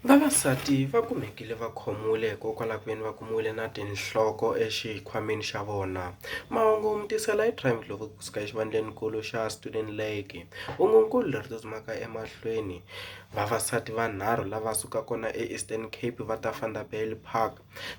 Vavasati va kumekile va khomiwile hikokwalaho ka ku ve ni va kumiwile na tinhloko exikhwameni xa vona. Mahungu mi tisela hi Prime Global kusuka exivandlenikulu xa Student Lake. Hungu-nkulu leri tsutsumaka emahlweni. Vavasati vanharhu lava sukaka kona eEastern Cape va ta Vanderbijlpark Park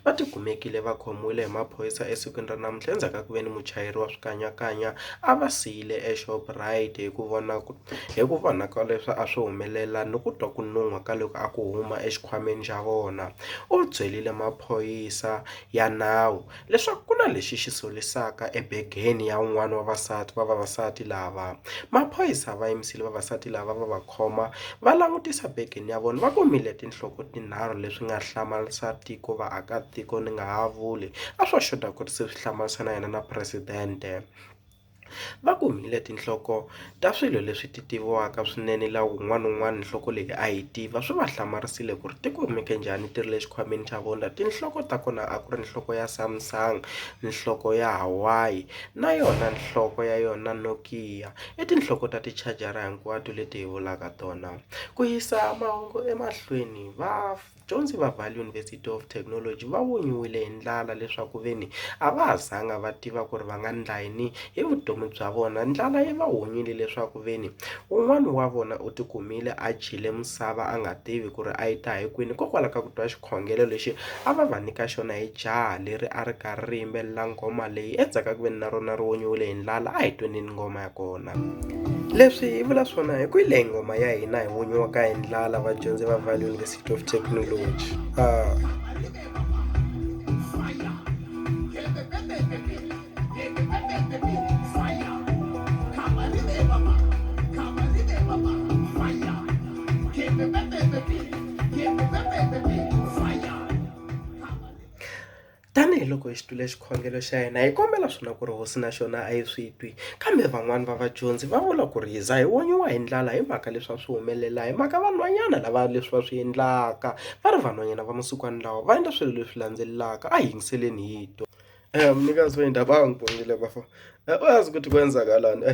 va tikumekile va khomiwile hi maphorisa esikwini ra namuntlha endzhaku ka ku ve ni muchayeri wa swikanyakanya a va siyile eShoprite hi ku vona ku hi ku vona ka leswi a swi humelela ni ku twa ku nun'hwa ka loko a ku huma exikhwameni xa vona u byerile maphorisa ya nawu. leswaku ku na lexi xi solisaka ebegeni ya un'wana wa vasati wa vavasati lava. Maphorisa va yimisile vavasati lava va va khoma va langutisa begeni ya vona va kumile tinhloko tinharhu leswi nga hlamarisa tiko vaakatiko ni nga ha vuli a swo xota ku ri se swi hlamarisa na yena na presidente. Va kumile tinhloko ta swilo leswi ti tiviwaka swinene laha un'wana na un'wana nhloko leyi a yi tiva swi va hlamarisile ku ri ti kumeke njhani ti ri le xikhwameni xa vona tinhloko ta kona a ku ri nhloko ya Samsung, nhloko ya Hawaii na yona nhloko ya yona Nokia i tinhloko ta ti-charger-a hinkwato leti hi vulaka tona ku yisa mahungu emahlweni va. Vadyondzi va Vaal University of Technology va vunyiwile hi ndlala leswaku veni a va ha zanga va tiva ku ri va nga ndla yini hi vutomi bya vona. Ndlala yi va hunyile leswaku veni un'wana wa vona u tikumile a dyile misava a nga tivi ku ri a yi ta hi kwini hikokwalaho ka ku twa xikhongelo lexi a va va nyika xona hi jaha leri a ri karhi ri yimbelela nghoma leyi. Endzhaku ka ku veni na rona ri vunyiwile hi ndlala a hi tweneni nghoma ya kona. leswi hi vula swona hi ku ile nghoma ya hina hi n'winyi wa ka hi ndlala vadyondzi va value university of technology uh, Tanihi loko hi xitwile xikhongelo xa yena, hi kombela swona ku ri hosi na xona a yi swi twi. Kambe van'wana va vadyondzi va vula ku ri, Hi za hi onyiwa hi ndlala hi mhaka leswi a swi humelela hi mhaka vanhwanyana lava leswi va swi endlaka. Va ri, Vanhwanyana va masikwani lawa va endla swilo leswi landzelaka, a hi yingiseleni hi twa. Mnikazi wendlu a va ha n'wi bongile bafo, a wu yazi ukuthi kwenzakalani?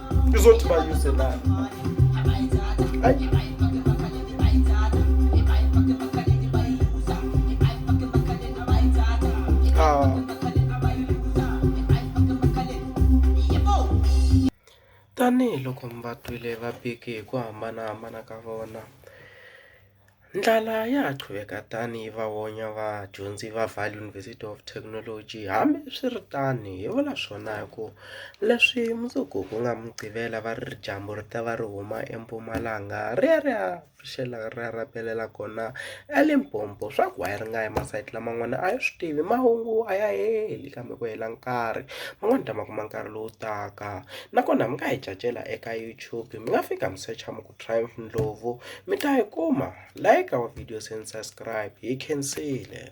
izothi bayuse la ayi Ah. Tanihi loko mi va twile va bike hi ku hambanahambana ka vona. Ndlala ya ha qhuveka tano yi va vonya vadyondzi va Vaal University of Technology. Hambi swi ri tano, hi vula swona hi ku leswi mundzuku ku nga Muqivela va ri dyambu ri ta va ri huma empumalanga ri ya ri ya pfuxela ri ya rapelela kona eLimpopo. Swa ku why ri nga yi masayiti laman'wana a hi swi tivi, mahungu a ya heli kambe ku hela nkarhi. Van'wani ta ma kuma nkarhi lowu taka. Nakona mi nga hi cacela eka YouTube, mi nga fika mi secha mi . Triumph Ndlovu mi ta yi kuma like our videos and subscribe hi khensile.